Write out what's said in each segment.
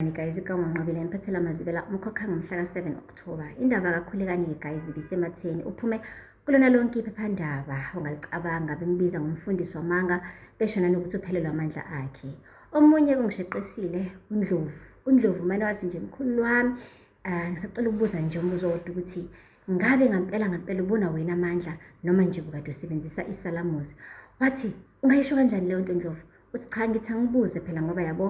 Khulekani guys ikawanqabile niphathela amazibela umkhokha ngomhla ka-7 October. Indaba kaKhulekani-ke guys ibisematheni uphume kulona lonke iphephandaba ongalicabanga bembiza ngomfundisi wamanga besho nanokuthi uphelelwa amandla akhe. Omunye kungisheqisile uNdlovu. UNdlovu mane wathi nje mkhulu wami Ah, ngisacela ukubuza nje umbuzo wodwa ukuthi ngabe ngampela ngampela ubona wena amandla noma nje bukade usebenzisa isalamuzi wathi ungayisho kanjani leyo nto ndlovu uthi cha ngithi angibuze phela ngoba yabo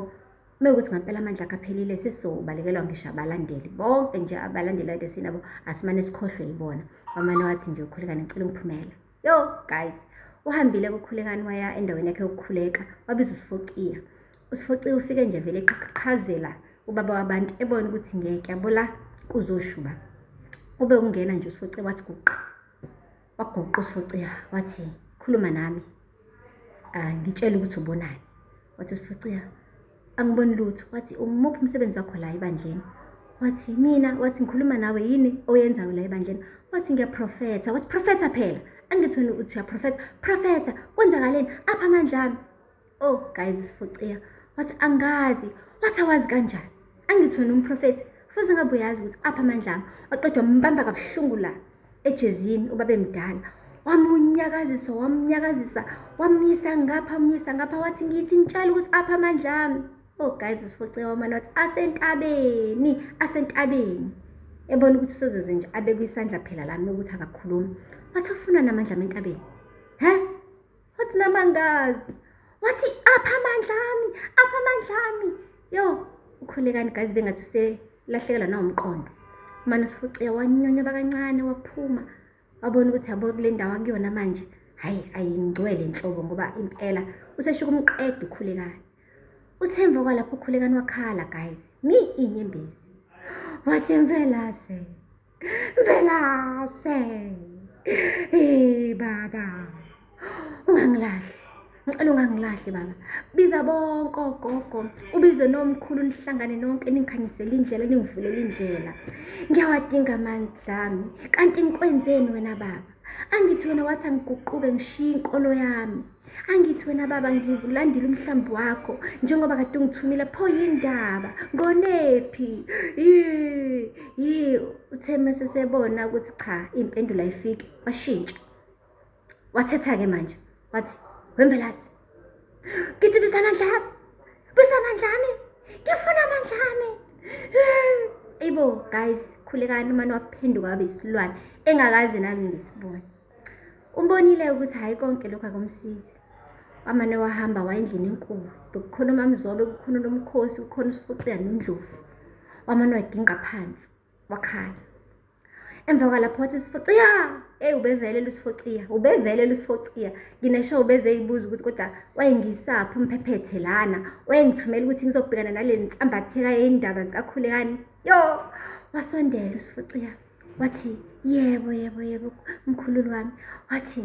uma ukuthi ngampela amandla akho aphelile sesizobalekelwa ngisho abalandeli bonke nje abalandeli adesinabo asimane sikhohlwe yibona wamane wathi nje ukhulekane ngicela umphumela Yo guys, uhambile kukhulekani waya endaweni yakhe yokukhuleka wabiza uSifociya. USifociya ufike nje vele eqhaqhazela ubaba wabantu ebona ukuthi ngeke yabola kuzoshuba. Ube ungena nje uSifociya wathi guqa. Waguqa uSifociya wathi khuluma nami. Ah ngitshela ukuthi ubonani. Wathi uSifociya angiboni lutho wathi umuphi umsebenzi wakho la ebandleni wathi mina wathi ngikhuluma nawe yini oyenzayo la ebandleni wathi ngiyaprofetha wathi profetha phela angithi wena uthi uyaprofetha profetha kwenzakaleni apha amandla ami oh guys isifuciya wathi angazi wathi awazi kanjani angithi wena umprofethi futhi ngabe uyazi ukuthi apha amandla ami waqedwa mbamba kabuhlungu la ejezini ubabemdala wamunyakazisa wamunyakazisa wamyisa ngapha amyisa ngapha wathi ngithi ngitshela ukuthi apha amandla ami oh guys usifocewa umane wathi asentabeni asentabeni ebona ukuthi usezoze nje abekwisandla phela lami ukuthi akakhulumi wathi afuna namandla ami entabeni he wathi nami angazi wathi apha amandla ami apha amandla ami yo ukhulekani guys bengathi selahlekelwa nawumqondo mane usifuciya wanyonya bakancane waphuma wabona ukuthi yabo kule ndawo akuyona manje hhayi ayingcwele nhlobo ngoba impela useshuka umqeda ukhulekani uthemva kwalapho ukhulekani wakhala guys mi inyembezi wathi impela se Velase. Hey baba. Ungangilahli. Ngicela ungangilahli baba. Biza bonke ogogo, ubize nomkhulu nihlangane nonke ningikhanyisele indlela ningivulele indlela. Ngiyawadinga amandla ami. Kanti ngikwenzeni wena baba? Angithi wena wathi angiguquke ngishiye inkolo yami. angithi wena baba ngiwulandile umhlambi wakho njengoba kade ungithumile pho yindaba ngonephi yi uthe mese sebona ukuthi cha impendulo ayifiki washintsha wathetha ke manje wathi wembelazi ngithi bisamandla yami bisamandla yami ngifuna amandla yami ibo guys khulekani umane waphenduka wabe isilwane engakaze nami ngisibone Umbonile ukuthi hhayi konke lokhu akumsizi. Wamane wahamba waya endlini enkulu. Bekukhona umamzobe, kukhona nomkhosi, kukhona usifucela nendlovu. Wamane wagingqa phansi, wakhala. Emva kwalapho wathi usifuciya, eyi ubevele lusifuciya, ubevele lusifuciya. Nginesho ubeze eyibuza ukuthi kodwa wayengisaphi umphephethe lana, wayengithumela ukuthi ngizobhekana nale nsambatheka yey'ndaba zikakhulekani. Yo, wasondela usifuciya. wathi yebo yebo yebo mkhululu wami wathi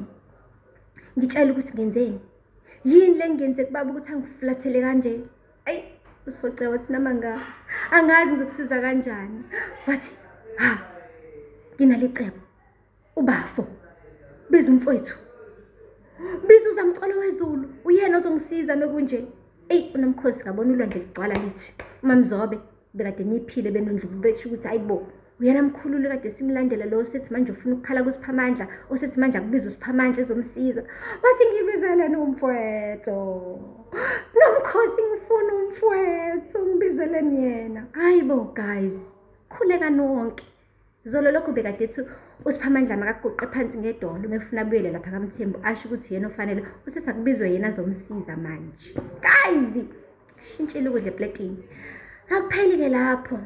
ngitshela ukuthi ngenzeni yini le ngenze kubaba ukuthi angiflathele kanje ayi usifoce wathi nama ngazi angazi ngizokusiza kanjani wathi ha nginalicebo ubafo biza umfowethu biza uzamcolo wezulu uyena ozongisiza mekunje eyi unamkhosi ngabona ulwandle ligcwala lithi umamzobe bekade ngiphile benondlovu besho ukuthi hayi bo uyena mkhululi kade simlandela lo osethi manje ufuna ukukhala kusiphamandla osethi manje akubiza usiphamandla ezomsiza wathi ngibizeleni umfwetho nomkhosi ngifuna umfwetho ngibizeleni yena hayi bo guys khuleka nonke Zolo lokhu bekade ethi uSiphamandla makaguqe phansi ngedolo uma efuna abuyele lapha kaMthembu asho ukuthi yena ofanele usethi akubizwe yena azomsiza manje. Guys, shintshile ukudla epletini. Akupheli-ke lapho.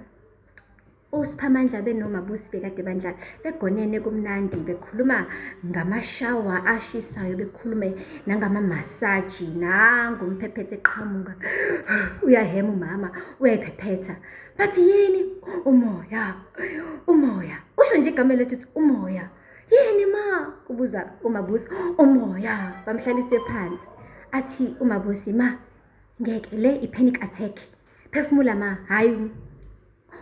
USiphamandla benoMabusi bekade bandla begonene kumnandi bekhuluma ngamashawa ashisayo bekhulume nangamamassaji nangu umphephetha eqhamuka uyahema umama uyayiphephetha bathi yini umoya umoya usho nje igama elethu uthi umoya yini ma kubuza umabusi umoya bamhlalise phansi athi umabusi ma ngeke le i-panic attack phefumula ma hhayi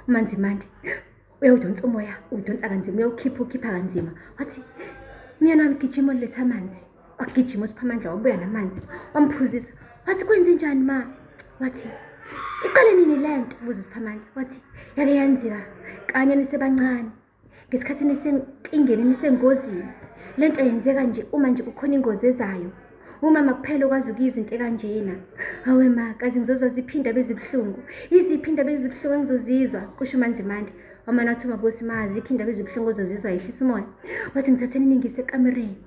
umanzimande uyawudonsa umoya uwudonsa kanzima uyawukhipha ukhipha kanzima wathi myena wami gijima uletha amanzi wagijima usiphamandla wabuya namanzi wamphuzisa wathi kwenze njani ma wathi iqale nini le nto buza usiphamandla wathi yake yenzeka kanye nisebancane ngesikhathi nisenkingeni nisengozini le nto yenzeka nje uma nje kukhona ingozi ezayo umama kuphela okwazi ukuyizwa into ekanjena hawe ma kazi ngizozwa ziphinda bezibuhlungu iziphi indaba ezibuhlungu engizozizwa kusho umanzimande wamana wathi umabosi ma zikho indaba ezibuhlungu ozozizwa yehlisa umoya wathi ngithatheni ningise ekamereni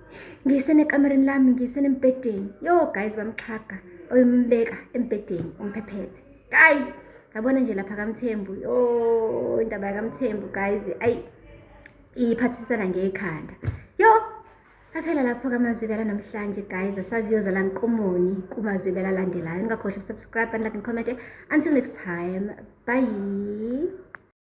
ngisenekamereni lami ngisenembhedeni yo guys bamxhaga oyombeka embhedeni umphephete guys yabona nje lapha kamthembu yo indaba yakamthembu guys ayi iyiphathisana ngekhanda yo aphela lapho kamazwibela namhlanje guys asaziyozala nqumoni kumazwibela alandelayo ningakhohlwa subscribe and like and comment until next time bye